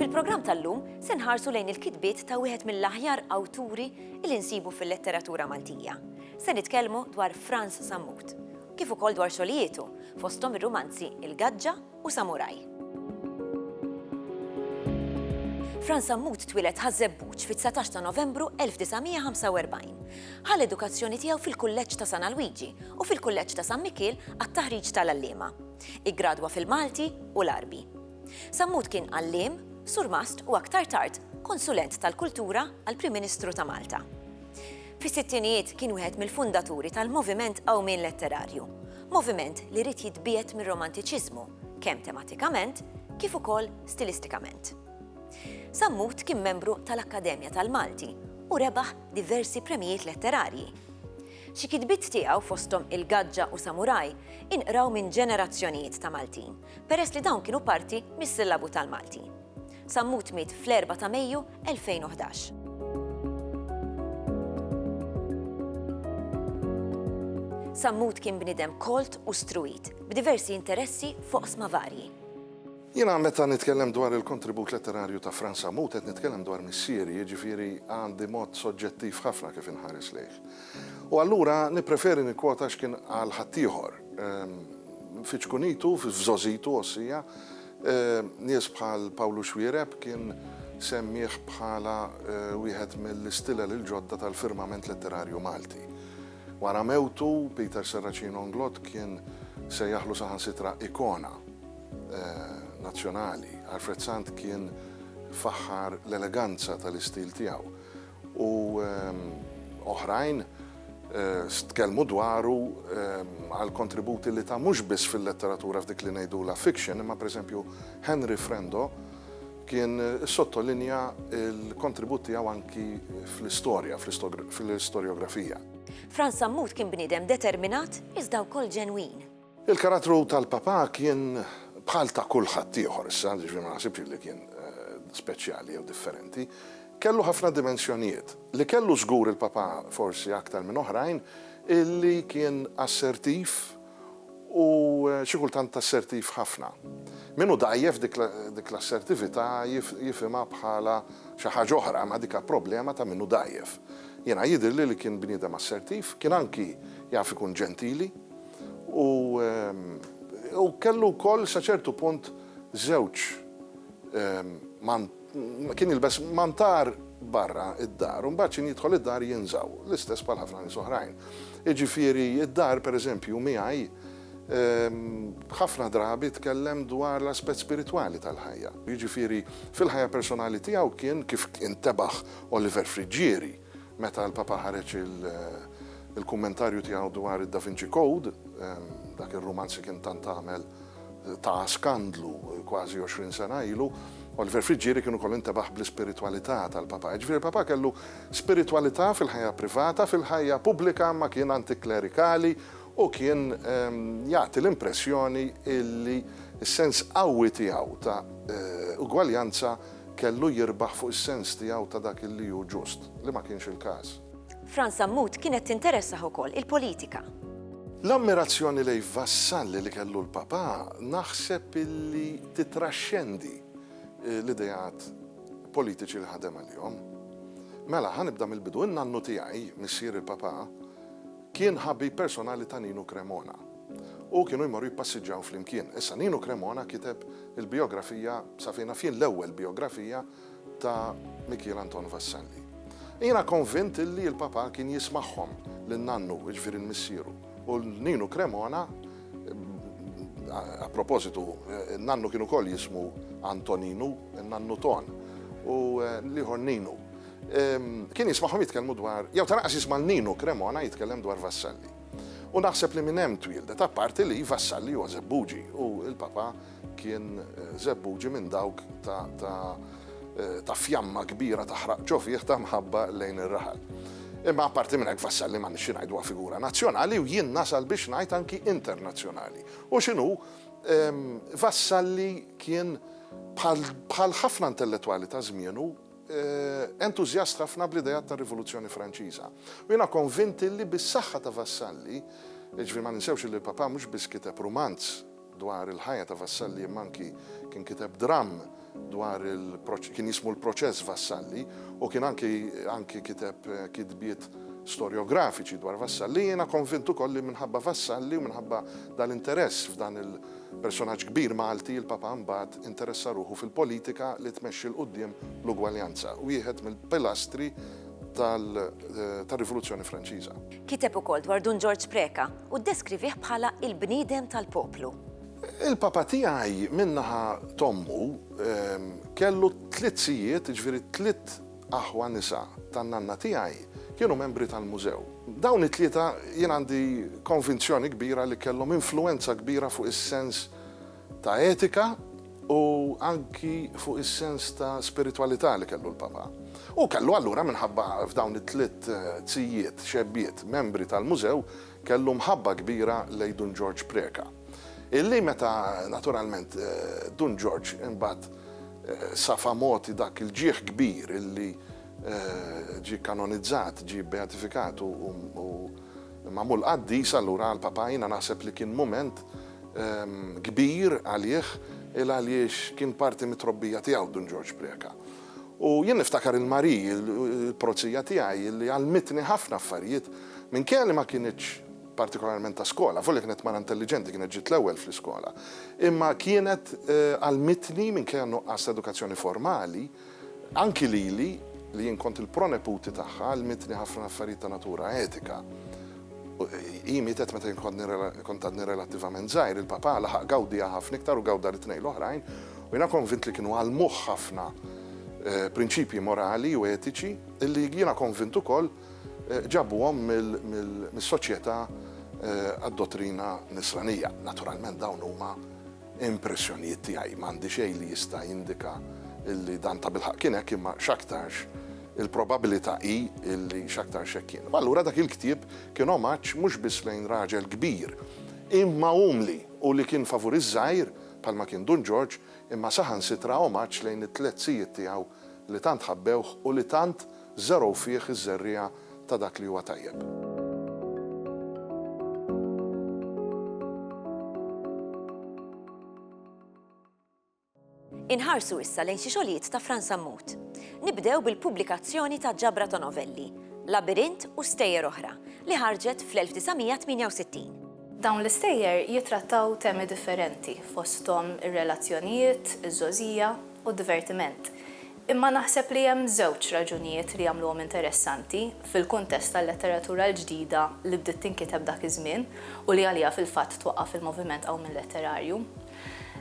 Fil-programm tal-lum se nħarsu lejn il-kitbiet ta' wieħed mill-aħjar awturi li nsibu fil-letteratura Maltija. Se nitkellmu dwar Franz Sammut, kif ukoll dwar xogħlietu, fosthom ir-rumanzi Il-Gaġġa u samuraj. Fran Sammut twieled Ħaż-Żebbuġ fit-19 ta' Novembru 1945. Ħa l-edukazzjoni tiegħu fil-Kulleġġ ta' San Alwiġi u fil-Kulleġġ ta' San Mikiel għat-taħriġ tal-għalliema. Iggradwa fil-Malti u l-Għarbi. Sammut kien għalliem, surmast u aktar tard konsulent tal-kultura għall-Prim Ministru ta' Malta. Fis-sittinijiet kien wieħed mill-fundaturi tal-Moviment Qawmien Letterarju, moviment li ried jitbiegħed mir-Romantiċiżmu kemm tematikament kif ukoll stilistikament. Sammut kien membru tal-Akkademja tal-Malti u rebaħ diversi premjijiet letterarji. Xi kitbiet tiegħu fosthom Il-Gaġġa u Samuraj inqraw minn ġenerazzjonijiet ta' Maltin peress li dawn kienu parti mis-sillabu tal-Malti. Sammut miet fl-4 ta' Mejju 2011. Sammut kien bniedem kolt u struwit, b'diversi interessi f'oqsma varji. Jiena meta nitkellem dwar il-kontribut letterarju ta' Frans Sammut qed nitkellem dwar missieri, jiġifieri għandi mod soġġettiv ħafna kif inħares lejh. U allura nippreferi nikkwota x'kien qal ħaddieħor. Fi ċkunitu, f'żogħżitu, għossija, Nies bħal Pawlu Xuereb kien semmieh bħala wieħed mill-istilel il-ġodda tal-firmament letterarju Malti. Wara mewtu, Peter Serracin Onglot kien sejjaħlu saħansitra ikona nazzjonali. Alfred Sant kien faħħar l-eleganza tal-istil tiegħu u oħrajn stkellmu dwaru għall-kontributi li ta mhux biss fil-letteratura f'dik li ngħidulha fiction imma pereżempju Henry Frendo kien issottolinja l-kontribut tiegħu anki fl-istorja, fl-istorjografija. Frans Sammut kien bniedem determinat iżda wkoll ġenwin. Il-karattru tal-Papà kien bħal ta' kulħadd ieħor issa, jiġifieri ma naħsibx illi kien speċjali jew differenti. Kellu ħafna dimensjonijiet. Li kellu żgur il-Papà forsi aktar minn oħrajn hi li kien assertiv u xi kultant assertiv ħafna. Min hu dgħajjef dik l-assertività jifhimha bħala xi ħaġa oħra imma diha problema ta' min hu dgħajjef. Jiena jidhirli li kien bniedem assertiv, kien anki jaf ikun ġentili. U hu kellu wkoll sa ċertu punt żewġ kien jilbes mantar barra d-dar u mbagħad x'in jidħol id-dar jinżgħu, l-istess bħal ħafna nies oħrajn. Jiġifieri d-dar pereżempju miegħi ħafna drabi tkellem dwar l-aspett spiritwali tal-ħajja. Jiġifieri fil-ħajja personali tiegħu kien kif intebaħ Oliver Friggieri Meta l-Papa ħareġ il-kummentarju tiegħu dwar id-Da Vinci Code, dak ir-rumanz li kien tant għamel ta' skandlu kważi 20 sena ilu, Oliver Friggieri kien ukoll intebaħ bl-ispiritwalità tal-Papa. Jiġifieri il-Papa kellu spiritwalità fil-ħajja privata, fil-ħajja pubblika imma kien antiklerikali u kien jagħti l-impressjoni illi s-sens qawwi tiegħu ta' ugwaljanza kellu jirbaħ fuq is-sens tiegħu ta' dak li hu ġust, li ma kienx il-każ. Fran Sammut kienet tinteressah ukoll il-politika. L-ammirazzjoni lejn vassalli li kellu l-Papà naħseb li titraxxendi l-ideat politiċi li ħadem għalihom. Mela, ħa nibda mill-bidu, in-nannu tiegħi, missier il-Papà, kien ħabib personali ta' Ninu Cremona. u kienu jmorru jippassiġġaw flimkien. Issa Nino Cremona kiteb il-bijografija, sa fejn naf jien l-ewwel bijografija, ta' Mikiel Anton Vassalli. Jiena konvint illi l-Papà kien jismagħhom lil nannu, jiġifieri l-missieru, u lil Nino Cremona, a propositu, nannu kien ukoll jismu Antoninu, in-nannu Ton, u l-ieħor Ninu. Kien jismagħhom jitkellmu dwar, jew ta' lanqas jisma' lil Nino Cremona jitkellem dwar Vassalli. U naħseb li minn hemm twieldet, apparti li iva s-Salli huwa Żebbuġi u l-Papa kien Żebbuġi minn dawk ta' fjamma kbira taħraq ġo fih ta' mħabba lejn ir-raħal. Imma apparti minn hekk Vassalli m'għandniex xi ngħidu huwa figura nazzjonali u jien nasal biex ngħid anki internazzjonali. U x'inhu, Vassalli kien bħal ħafna intellettwali ta' żmienu, entużjast ħafna bl-ideat tar-Rivoluzzjoni Franċiża. U jiena konvint illi bis-saħħa ta' Vassalli, jiġifieri ma ninsewx illi l-Papa mhux biss kiteb rumanz dwar il-ħajja ta' Vassalli imma anki kien kiteb dramm dwar il kien jismu l-Proċess Vassalli u kien anki anki kiteb kitbiet storjografiċi dwar Vassalli, jiena konvint ukoll li minħabba Vassalli u minħabba dal-interess f'dan il Personaġġ kbir Malti, il-Papa mbagħad interessa ruħu fil-politika li tmexxi 'l quddiem l-ugwaljanza, wieħed mill-pilastri tal-Rivoluzzjoni Franċiża. Kiteb ukoll dwar Dun Ġorġ Preca u ddeskrivih bħala l-bniedem tal-poplu. Il-Papa tiegħi minn naħa t'ommu kellu tliet sijiet, jiġifieri tliet Aħwa nisa tan-nanna tiegħi kienu membri tal-mużew. Dawn it-tlieta jien għandi konvinzjoni kbira li kellhom influwenza kbira fuq is-sens ta' etika u anki fuq is-sens ta' spiritwalità li kellu l-Papa. Hu kellu allura minħabba f'dawn it-tliet zijiet, xebbiet, membri tal-mużew, kellu mħabba kbira lejn Dun Ġorġ Preca. Illi meta naturalment Dun Ġorġ imbagħad safa mogħti dak il-ġieħ kbir illi ġie kanonizzat, ġie bbeatifikat u magħmul qaddis, allura għall-Papa jiena naħseb li kien mument kbir għalih il għaliex kien parti mit-trobbija tiegħu Dun Ġorġ Preca. U jien niftakar il-Marie, il-prozija tiegħi, illi għallmitni ħafna affarijiet minkejja li ma kinitx partikolarment ta' skola, avolja kienet mara intelliġenti, kienet ġiet l-ewwel fl-iskola, imma kienet għallmitni, minkejja n-nuqqas ta' edukazzjoni formali, anki lili, li jien kont il-proneputi tagħha, għallmitni ħafna affarijiet ta' natura etika. Hi mietet meta jien kont għadni relattivament żgħir, il-papà laħaq gawdiha ħafna iktar u gawda lit-tnejn l-oħrajn, u jiena konvint li kienu għallmuh ħafna prinċipji morali u etiċi, li jiena konvint ukoll Ġabuhom mis-Soċjetà għad-Dottrina Nisranija. Naturalment dawn huma impressjonijiet tiegħi, m'għandi xejn li jista' jindika li dan tabilħaqq kien hekk imma x'aktarx il-probabilità hi li x'aktarx hekk kien. U allura dak il-ktieb kien omaġġ mhux biss lejn raġel kbir imma umli u li kien favur iż-żgħir bħalma kien Dun Ġorġ imma saħansitra omaġġ lejn it-tliet zijiet tiegħu li tant ħabbewh u li tant żergħu fih iż-żerriegħa ta' dak li huwa tajjeb. Inħarsu issa lejn xi xogħlijiet ta' Fran Sammut. Nibdew bil-pubblikazzjoni ta' ġabra ta' novelli, Labirint u Stejjer Oħra, li ħarġet fl-1968. Dawn l-istejjer jittrattaw temi differenti, fosthom ir-relazzjonijiet, iż-żgħożija u d-divertiment. Imma naħseb li hemm żewġ raġunijiet li jagħmluhom interessanti fil-kuntest tal-letteratura l-ġdida li bdiet tinkiteb dak iż-żmien u li għaliha fil-fatt twaqqaf il-moviment qawmien letterarju.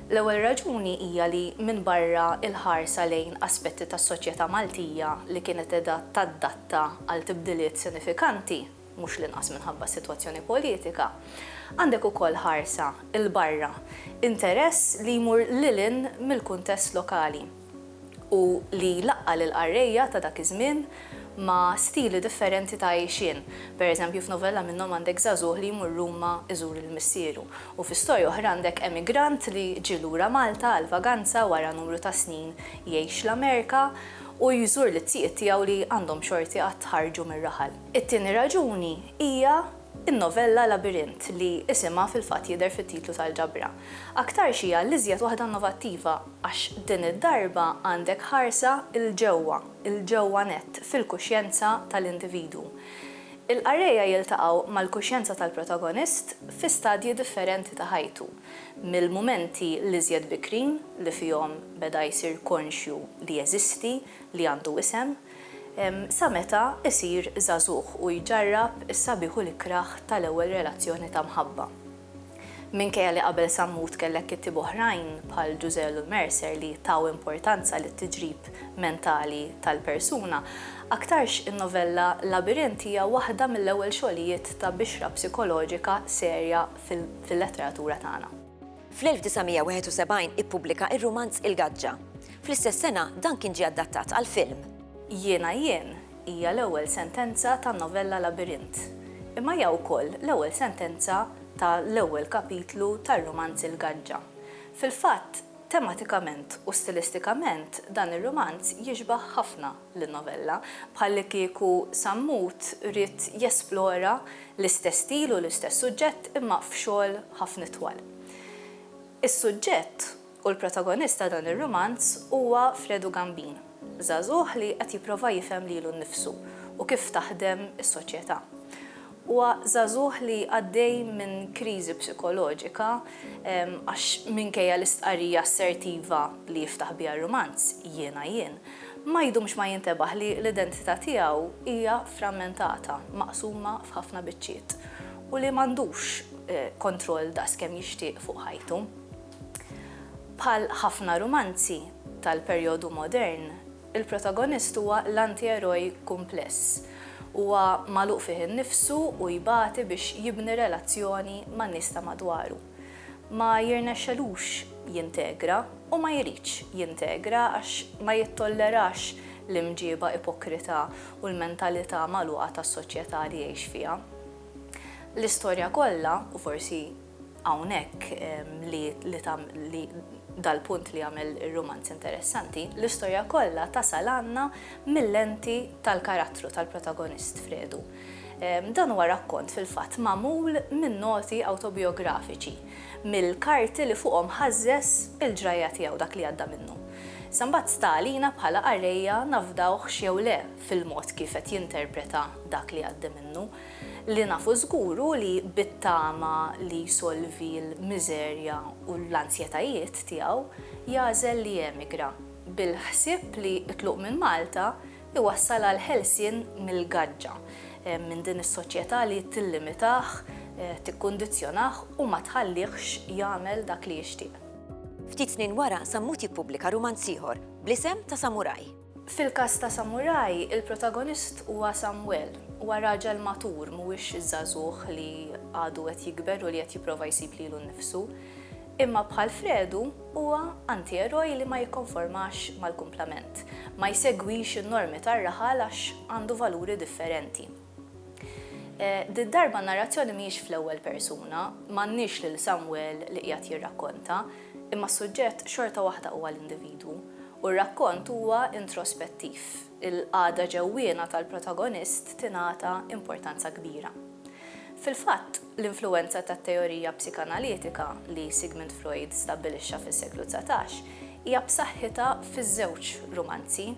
L-ewwel raġuni hija li minbarra l-ħarsa lejn aspetti tas-soċjetà Maltija li kienet qiegħda taddatta għal tibdiliet sinifikanti, mhux l-inqas minħabba s-sitwazzjoni politika, għandek ukoll ħarsa 'l barra, interess li jmur lil hinn mill-kuntest lokali. u li laqqa' lill-qarrejja ta' dak iż-żmien ma' stili differenti ta' għixien. Per eżempju, f'novella minnhom għandek żagħżugħ li jmur Ruma iżur lil missieru, u fi storja oħra għandek emigrant li ġie lura Malta għall-vaganza wara numru ta' snin jgħix l-Amerika u jżur lit-tjiet tiegħu li għandhom xorti għad ħarġu mir-raħal. It-tieni raġuni hija n-novella Labirint li isimha fil-fatt jidher fit-titlu tal-ġabra. Aktarx hija l-iżjed waħda innovattiva. Għax din id-darba għandek ħarsa 'l ġewwa, 'l ġewwa nett, fil-kuxjenza tal-individwu. Il-qarrejja jiltaqgħu mal-kuxjenza tal-protagonist fi stadji differenti ta' ħajtu, mill-mumenti l-iżjed bikrin li fihom beda jsir konxju li jeżisti, li għandu isem, sa meta jsir żagħżugħ u jġarrab is-sabiħ u l-ikrah tal-ewwel relazzjoni ta' mħabba. Minkejja li qabel Sammut kellek kittieba oħrajn bħal Ġużell u Mercer li taw importanza lit-tiġrib mentali tal-persuna, aktarx in-novella Labirint hija waħda mill-ewwel xogħlijiet ta' bixra psikoloġika serja fil-letteratura tagħna. Fl-1971 ippubblika r-rumanz Il-Gaġġa. Fl-istess sena dan kien ġie adattat għal film. Jiena Jien, Hija l-ewwel sentenza tan-novella Labirint, imma hija wkoll l-ewwel sentenza ta' l-ewwel kapitlu tar-rumanz Il-Gaġġa. Fil-fatt, tematikament u stilistikament dan ir-rumanz jixbah ħafna lin-novella, bħallikieku Sammut ried jesplora l-istess stil u l-istess suġġett imma f'xogħol ħafna itwal. Is-suġġett U l-protagonist ta' dan ir-rumanz huwa Fredu Gambin, żagħżugħ li qed jipprova jifhem lilu nnifsu u kif taħdem is-soċjetà. Huwa żagħżugħ li għaddej minn kriżi psikoloġika għax minkejja l-istqarrija assertiva li jiftaħ biha r-rumanz, Jiena jien, ma jdumx ma jintebaħ li l-identità tiegħu hija frammentata, maqsuma f'ħafna biċċiet u li m'għandux kontroll daqskemm jixtieq fuq ħajtu. Bħal ħafna rumanzi tal-perjodu modern, il-protagonist huwa l-antieroj kumpless. Huwa magħluq fih innifsu u jbati biex jibni relazzjoni man-nies ta' madwaru. Ma jirnexxelux jintegra u ma jridx jintegra għax ma jittollerax l-imġieba ipokrita u l-mentalità magħluqa tas-soċjetà li jgħix fiha. L-istorja kollha, u forsi Hawnhekk li li dal-punt li jagħmel ir-rumanz interessanti, l-istorja kollha tasal għandna mil-lenti tal-karattru tal-protagonist Fredu. Dan huwa rakkont fil-fatt magħmul minn noti awtobijografiċi, mill-karti li fuqhom ħażżeż il-ġrajja tiegħu, dak li għadda minnu. Issa mbagħad sta għalina bħala qarrejja nafdawhx jew le fil-mod kif qed jinterpreta dak li għaddi minnu. Li nafu żgur hu li bit-tama li jsolvi l-miżerja u l-anzjetajiet tiegħu, jagħżel li jemigra, bil-ħsieb li t-tluq minn Malta jwassal għal ħelsien mill-gaġġa, minn din is-soċjetà li tillimitah, tikkundizzjonah u ma tħalliehx jagħmel dak li jixtieq. Ftit snin wara, Sammut jippubblika rumanz ieħor, bl-isem ta' Samuraj. Fil-każ ta' Samuraj, il-protagonist huwa Samwel. Huwa raġel matur, mhuwiex żagħżugħ li għadu qed jikber u li qed jipprova jsib lilu nnifsu. Imma bħal Fredu, huwa antieroj li ma jikkonformax mal-kumplament. Ma jsegwix in-normi tar-raħal għax għandu valuri differenti. Did-darba n-narrazzjoni mhijiex fl-ewwel persuna, m'għandniex lil Samwel li qiegħed jirrakkonta, imma s-suġġett xorta waħda huwa l-individwu, u r-rakkont huwa introspettiv, il-qagħda ġewwiena tal-protagonist tingħata importanza kbira. Fil-fatt, l-influwenza tat-teorija psikanalitika li Sigmund Freud stabbilixxa fis-seklu dsatax hija b'saħħitha fiż-żewġ rumanzi.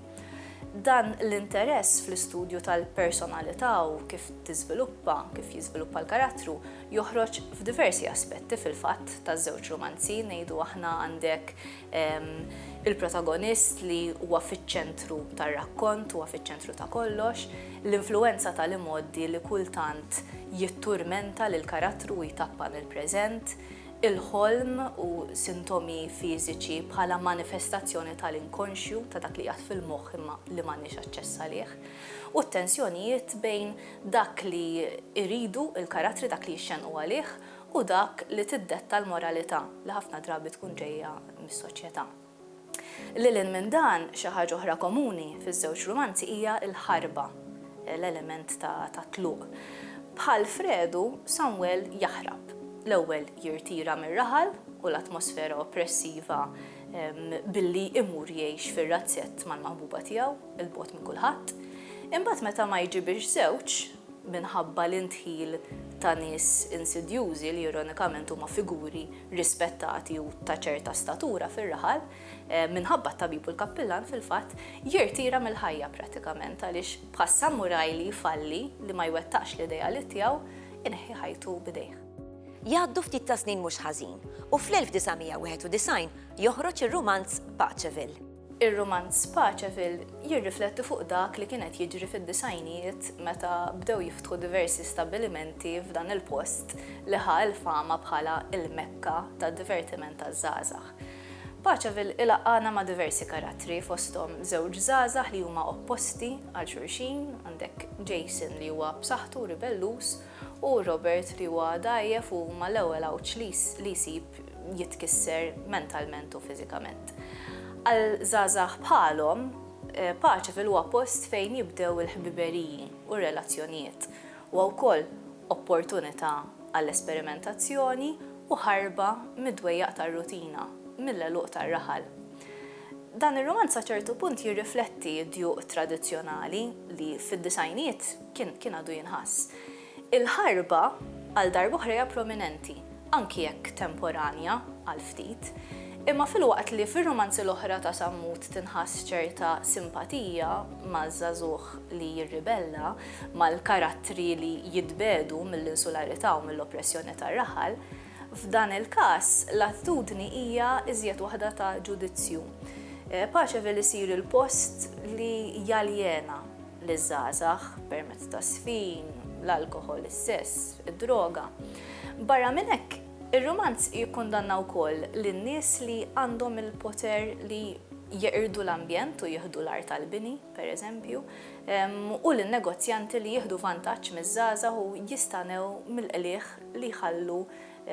Dan l-interess fl-istudju tal-personalità u kif tiżviluppa, kif jiżviluppa l-karattru, joħroġ f'diversi aspetti fil-fatt taż-żewġ rumanzi, ngħidu aħna għandek il-protagonist li huwa fiċ-ċentru tar-rakkont, huwa fiċ-ċentru ta' kollox, l-influwenza tal-imgħoddi li kultant jitturmenta lill-karattru u jtappan il-preżent, il-ħolm u sintomi fiżiċi bħala manifestazzjoni tal-inkonxju, ta' dak li qiegħed fil-moħħ imma li m'għandniex aċċess għalih, u t-tensjonijiet bejn dak li jridu l-karattri, dak li jixxennqu għalih, u dak li tiddetta l-moralità, li ħafna drabi tkun ġejja mis-soċjetà. Lil hinn minn dan, xi ħaġa oħra komuni fiż-żewġ rumanzi hija l-ħarba, l-element ta' tat-tluq. Bħal Fredu, Samwel jaħrab. L-ewwel jirtira mir-raħal u l-atmosfera oppressiva billi imur jgħix fir-razzett mal-maħbuba tiegħu, 'il bogħod minn kulħadd. Imbagħad meta ma jġibirx żewġ, minħabba l-indħil ta' nies insidjużi li ironikament huma figuri rispettati u ta' ċerta statura fir-raħal, minħabba t-tabib u l-kappillan fil-fatt, jirtira mill-ħajja prattikament għaliex bħas-samuraj li jfalli li ma jwettaqx l-ideali tiegħu, ineħħi ħajtu b'idejh. Jgħaddu ftit ta' snin mhux ħażin u fl-1991 joħroġ ir-rumanz Paceville. Ir-rumanz Paceville jirrifletti fuq dak li kien qed jiġri fid-disgħinijiet meta bdew jiftħu diversi stabbilimenti f'dan il-post li ħa l-fama bħala l-Mekka tad-divertiment taż-żgħażagħ. Paceville ilaqqagħna ma' diversi karattri fosthom żewġ żgħażagħ li huma opposti għal xulxin, għandek Jason li huwa b'saħħtu u ribelluż, u Robert li huwa dgħajjef u huma l-ewwel għawġ li li jsib jitkisser mentalment u fiżikament. Għal żgħażagħ bħalhom, Paceville huwa post fejn jibdew il-ħbiberiji u r-relazzjonijiet. Huwa wkoll opportunità għall-esperimentazzjoni u ħarba mid-dwejjaq tar-rutina, mill-għeluq tar-raħal. Dan ir-rumanz sa ċertu punt jirrifletti d-djuq tradizzjonali li fid-disgħinijiet, kien kien għadu jinħass. Il-ħarba għal darb'oħra hija prominenti, anki jekk temporanja għal ftit. Imma filwaqt li fir-rumanzi l-oħra ta' Sammut tinħass ċerta simpatija maż-żagħżugħ li jirribella, mal-karattri li jitbiegħdu mill-insularità u mill-oppressjoni tar-raħal, f'dan il-każ l-attitudni hija iżjed waħda ta' ġudizzju. Paċeville isir il-post li jaljena liż-żgħażagħ permezz tas-sfin, l-alkoħol, is-sess, id-droga. Barra minn hekk, ir-rumanz jikkundanna wkoll lin-nies li għandhom il-poter li jeqirdu l-ambjent u jieħdu l-art tal-bini, pereżempju, u lin-negozjanti li jieħdu vantaġġ miż-żgħażagħ u jistanew mill-qligħ li jħallu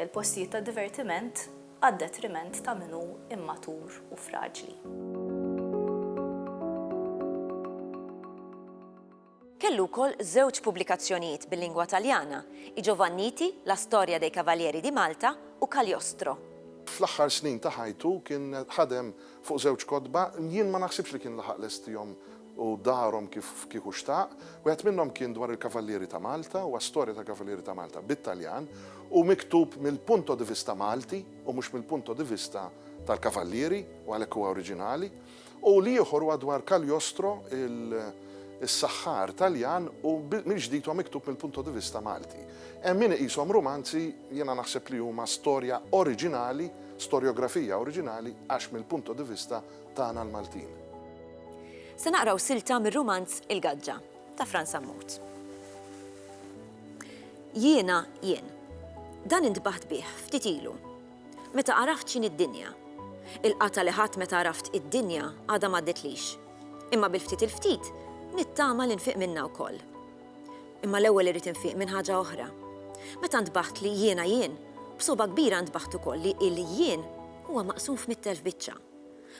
l-postijiet tad-divertiment għad-detriment ta' min hu immatur u fraġli. Kellu wkoll żewġ pubblikazzjonijiet bil-lingwa Taljana, I Giovanniti, La storia dei cavalieri di Malta u Cagliostro. Fl-aħħar snin ta' ħajtu kien ħadem fuq żewġ kotba li jien ma naħsibx li kien laħaq lestihom u darhom kif kieku xtaq. Wieħed minnhom kien dwar il-Kavallieri ta' Malta, huwa storja tal-Kavallieri ta' Malta bit-Taljan u miktub mill-punto di vista Malti u mhux mill-punto di vista tal-Kavallieri u għalhekk huwa oriġinali. U l-ieħor huwa dwar Cagliostro, is-saħħar Taljan u mill-ġdid huwa miktub mill-punto di vista Malti. Hemm min iqishom rumanzi, jiena naħseb li huma storja oriġinali, storjografija oriġinali għax mill-punto di vista tagħna l-Maltin. Se naqraw silta mir-rumanz Il-Gaġġa ta' Fran Sammut. Jiena jien. Dan intbaħt bih ftit ilu. Meta għaraft x'in id-dinja. Il-qata li ħadd meta għaraft id-dinja għadha m'għadditlix. Imma bil-ftit il-ftit nittama li nfiq minna wkoll. Imma l-ewwel irid infiq minn ħaġa oħra. Meta ntbaħt li jiena jien, b'soba kbira ntbaħt ukoll li il-jien huwa maqsum f'mittelf biċċa.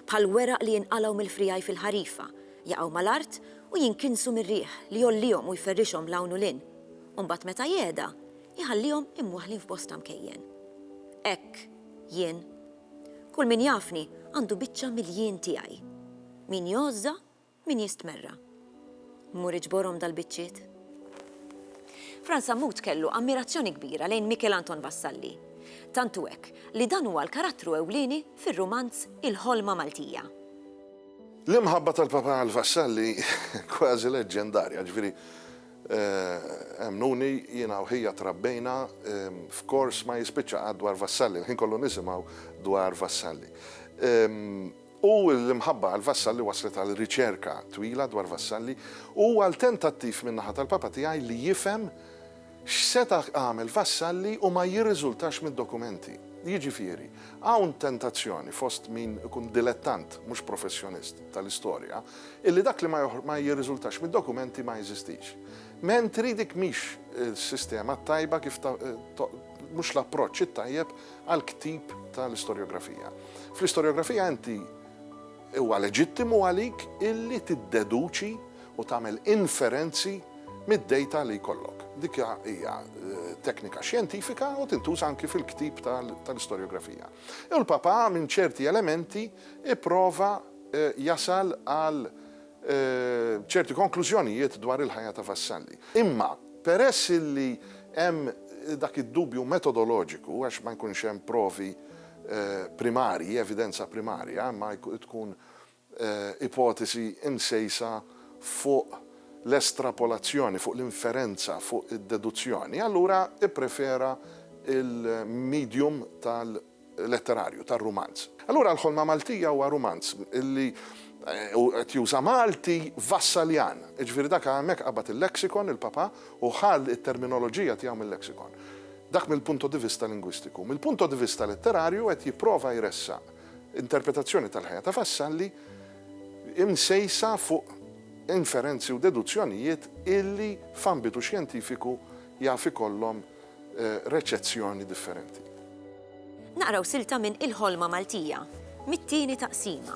Bħal weraq li jinqalgħu mill-friegħi fil-ħarifa, jaqgħu mal-art u jinkinsu mir-riħ li jgħollihom u jferrixhom 'l hawn u 'l hinn, u mbagħad meta jehda, iħallihom imwaħħlin f'bosta mkejjen. Hekk jien. Kull min jafni għandu biċċa mill-jien tiegħi. Min jgħożża, Min jistmerra? Mur iġborhom dal-biċċiet? Frans Sammut kellu ammirazzjoni kbira lejn Mikel Anton Vassalli. Tant hu hekk li dan huwa l-karattru ewlieni fir-rumanz Il-Ħolma Maltija. L-imħabba tal-Papa għal Vassalli kważi leġġendarja, jiġifieri, emmnuni, jiena u ħija trabbejna f'kors ma jispiċċa qatt dwar Vassalli, il-ħin kollu nisimgħu dwar Vassalli. u l-imħabba għal Vassalli wasslet għal riċerka twila dwar Vassalli u għal tentattiv min-naħa tal-Papa tiegħi li jifhem x'seta' għamel Vassalli u ma jirriżultax mid-dokumenti. Jiġifieri, hawn tentazzjoni fost min ikun dilettant, mhux professjonist, tal-istorja, illi dak li ma jirriżultax mid-dokumenti ma jeżistix. Mentri dik mhix is-sistema t-tajba kif mhux l-approċċ it-tajjeb għall-ktib tal-istorjografija. Fl-istorjografija inti huwa leġittimu għalik illi tiddeduċi u tagħmel inferenzi mid-dejta li jkollok. Dik hija eh, teknika xjentifika u tintuża anki fil-ktib tal-istorjografija. U l-papa minn ċerti elementi ipprova eh, jasal għal ċerti konklużjonijiet dwar il-ħajja ta' Vassalli. Imma, peress li hemm dak id-dubju metodoloġiku, għax ma jkunx hemm provi primarji, evidenza primarja, imma tkun ipotesi msejsa fuq l-estrapolazzjoni, fuq l-inferenza, fuq id-deduzzjoni, allura ipprefera l-medium tal-. letterarju, tar-rumanz. Allura l-Ħolma Maltija huwa rumanz li u qed juża Malti Vassaljan. Jiġifieri dak hemmhekk qabad il-lexicon, il-Papa, u ħa t-terminoloġija tiegħu mil-lexicon. Dak mill-punto di vista lingwistiku. Mill-punto di vista letterarju qed jipprova jressaq interpretazzjoni tal-ħajja ta' Vassalli imsejsa fuq inferenzi u deduzzjonijiet illi f'ambitu xjentifiku jaf ikollhom reċezzjoni differenti. Naqraw silta minn Il-Ħolma Maltija, mit-tieni taqsima,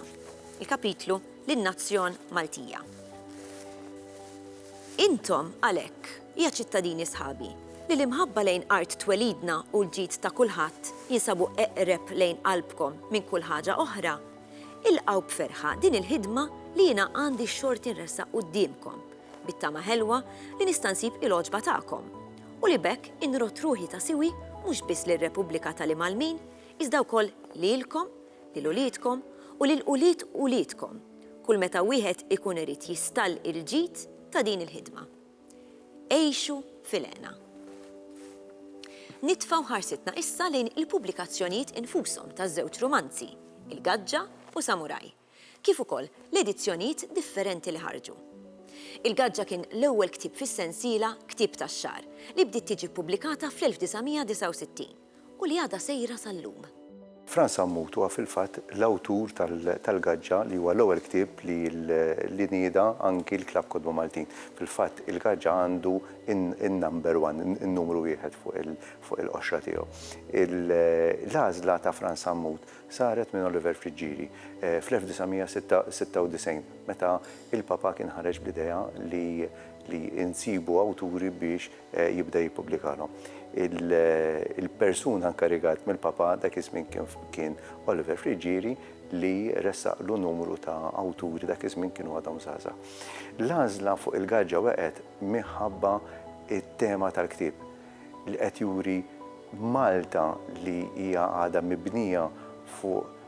il-kapitlu Lin-Nazzjon Maltija. Intom, għalhekk, ja ċittadini sħabi, li l-imħabba lejn art twelidna u l-ġid ta' kulħadd jinsabu eqreb lejn qalbkom minn kull ħaġa oħra, ilqgħu b'ferħa din il-ħidma li jiena għandi x-xorti nressaq quddiemkom bit-tama ħelwa li nista' nsib il-għoġba tagħkom u li b'hekk inrodd ruħi ta' siwi mhux biss lir-Repubblika tal-Imgħallmin iżda wkoll lilkom, lil uliedkom u lil ulied uliedkom kull meta wieħed ikun irid jistall il-ġid ta' din il-ħidma. Għixu fil-hena. Nitfgħu ħarsitna issa lejn il-pubblikazzjonijiet infushom taż-żewġ rumanzi, Il-Gaġġa u Samuraj. kif ukoll l-edizzjonijiet differenti li ħarġu. Il-Gaġġa kien l-ewwel ktieb fis-sensiela Ktieb tax-Xahar li bdiet tiġi ppubblikata fl-1969 u li għadha sejra sal-lum. Frans Sammut huwa fil-fatt l-awtur tal-Gaġġa li huwa l-ewwel ktieb li nieda anki l-Klabb Kotba Maltin. Fil-fatt il-Gaġġa għandu n-number one, in-numru wieħed fuq il-qoxra tiegħu. L-għażla ta' Frans Sammut Saret minn Oliver Friggieri fl-1996 meta l-Papa kien ħareġ bl-idea li li nsibu awturi biex jibda jippubblikalhom. Il-persuna nkarigat mill-Papa dak iż-żmien kien Oliver Friggieri li ressaqlu numru ta' awturi dak iż-żmien kienu għadhom żgħażagħ. L-għażla fuq il-gaġġa wegħqet minħabba t-tema tal-ktieb. li qed juri Malta li hija għadha mibnija fuq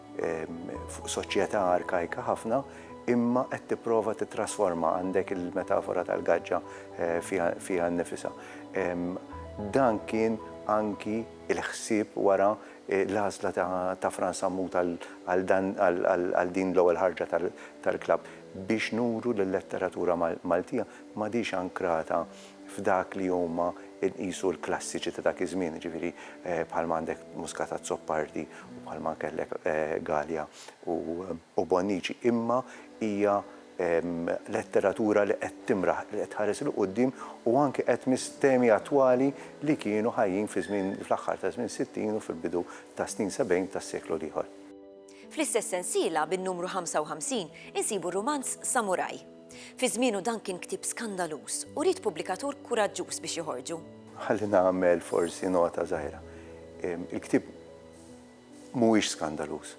fuq soċjetà arkajka ħafna imma qed tipprova tittrasforma, għandek il-metafora tal-gaġġa fiha fiha nnifisha. Dan kien anki l-ħsieb wara l-għażla ta' ta' Frans Sammut għal għal dan għal għal għal din l-ewwel ħarġa tal tal-klabb biex nuru li l-letteratura Mal Maltija m'għadhiex ankrata f'dak li huma nqisu l-klassiċi ta' dak iż-żmien, jiġifieri bħalma għandek Muscat Azzopardi u bħalma kellek Galea u Bonnici, imma hija letteratura li qed timraħ, li qed tħares 'il quddiem u anke qed tmiss temi attwali li kienu ħajjin fi żmien, fl-aħħar ta' żmien sittin u fil-bidu tas-snin sebgħin tas-seklu l-ieħor. Fl-istess sensiela, bin-numru 55, insibu r-rumanz Samuraj. Fi żmienu dan kien ktieb skandaluż u ried pubblikatur kuraġġuż biex joħorġu. Ħalli nagħmel forsi nota żgħira. Il-ktieb mhuwiex skandaluż.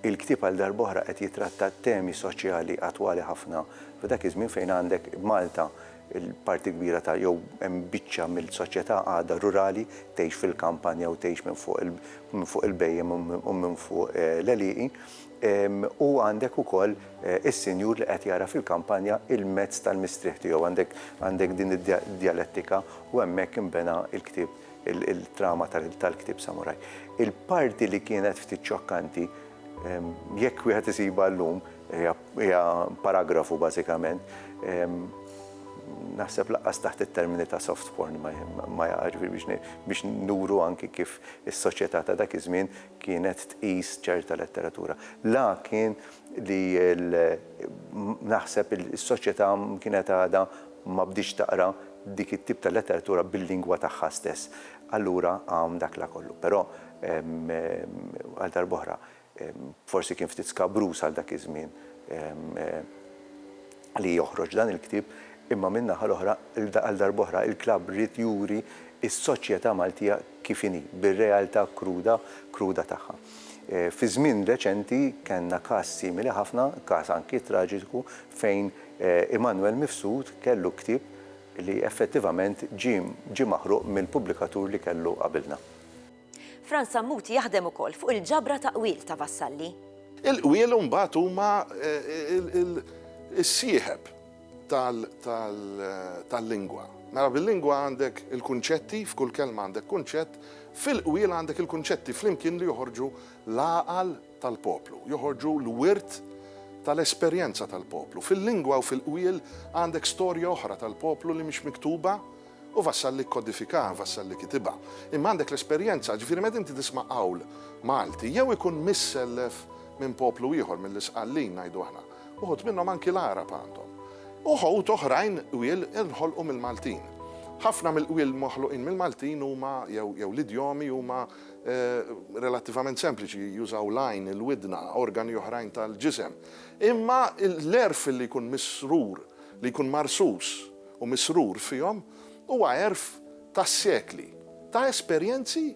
Il-ktieb għal darb'oħra qed jitratta temi soċjali attwali ħafna f'dak iż-żmien fejn għandek Malta l-parti kbira ta' jew hemm biċċa mill-soċjetà għadha rurali, tgħix fil-kampanja u tgħix minn fuq il-bhejjem u minn fuq l-għelieqi. u għandek ukoll is-sinjur li qed jara fil-kampanja l-mezz tal-mistrieħ tiegħu. Għandek għandek din id-djalettika u hemmhekk inbena l-ktieb il-trama tal-ktieb Samuraj. Il-parti li kienet ftit xokkanti, jekk wieħed isibha llum, hija hija paragrafu bażikament, naħseb lanqas taħt it-termini ta' soft porn ma ma jaqax biex biex nuru anki kif is-soċjetà ta' dak iż-żmien kienet tqis ċerta letteratura. La kien li l, naħseb is-soċjetà kienet għadha ma bdietx taqra dik it-tip ta' letteratura bil-lingwa tagħha stess. Allura hawn dak la kollu. Però, għal darb'oħra, forsi kien ftit skabruż għal dak iż-żmien. li joħroġ dan il-ktieb imma min-naħa l-oħra għal darb'oħra il-klabb ried juri s-soċjetà Maltija kif inhi, bir-realtà kruda kruda tagħha. Fi żmien reċenti kellna każ simili ħafna, każ anki traġiku fejn Immanuel Mifsud kellu ktieb li effettivament ġie maħruq mill-pubblikatur li kellu qabilna. Frans Sammut jaħdem ukoll fuq il-ġabra ta' qwiel ta' Vassalli. Il-qwiel imbagħad huma s-sieħeb tal-lingwa. Mela bil-lingwa għandek il-kunċetti, f'kull kelma għandek kunċett, fil-qwiel għandek il-kunċetti flimkien li joħorġu l-għaqal tal-poplu, joħorġu l-wirt tal-esperjenza tal-poplu. Fil-lingwa u fil-qwiel għandek storja oħra tal-poplu li mhix miktuba, Hu Vassal li kkodifikaha, Vassal li kitibha. Imma għandek l-esperjenza, ġifieri meta inti tisma' qawl Malti, jew ikun missellef minn poplu ieħor, mill-Isqallin ngħidu aħna, uħud minnhom anki l-Għarab għandhom. Uħud oħrajn qwiel inħolqu mill-Maltin. Ħafna mill-qwiel moħluqin mill-Maltin huma, jew jew l-idjomi huma relattivament sempliċi, jużaw l-għajn, il-widna, organi oħrajn tal-ġisem. Imma l-għerf li jkun misrur, li jkun marsus, u misrur fihom huwa għerf ta' sekli ta' esperjenzi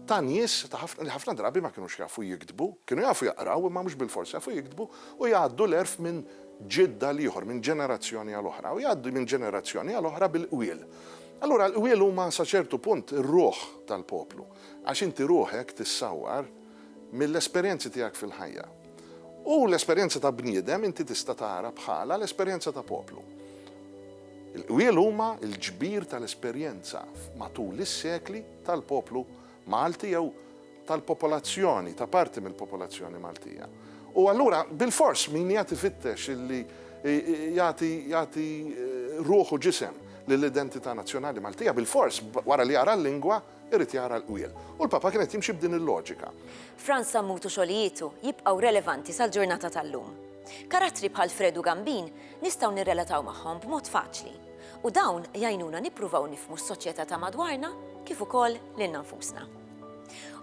ta' nies li ħafna drabi ma kinux jafu jiktbu, kienu jafu jaqraw imma mhux bilfors jafu jiktbu u jgħaddu l-għerf minn ġid għal ieħor, minn ġenerazzjoni għal oħra u jgħaddu minn ġenerazzjoni għal oħra bil-qwiel. Allura l-qwiel huma sa ċertu punt ir-ruħ tal-poplu għax inti ruħek tissawwar mill-esperjenzi tiegħek fil-ħajja. U l-esperjenza ta' bniedem inti tista' tara bħala l-esperjenza ta' poplu. Il-qwiel huma l-ġbir tal-esperjenza matul is-sekli tal-poplu Malti jew tal-popolazzjoni, ta' parti mill-popolazzjoni Maltija. U allura bilfors min qiegħed ifittex li jagħti jagħti ruħ u ġisem lill-identità nazzjonali Maltija bilfors wara li jara l-lingwa, irid jara l-qwiel. U l-Papa kien qed jimxi b'din il-loġika. Frans Sammut u xogħlijietu jibqgħu relevanti sal-ġurnata tal-lum. Karattri bħal Fred u Gambin nistgħu nirrelataw magħhom b'mod faċli. U dawn jgħinuna nippruvaw nifhmu s-soċjetà ta' madwarna kif ukoll lilna nfusna.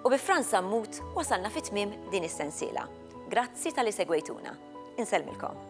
U bi Frans Sammut wasalna fi tmiem din is-sensiela. Grazzi talli segwejtuna. Insellmilkom.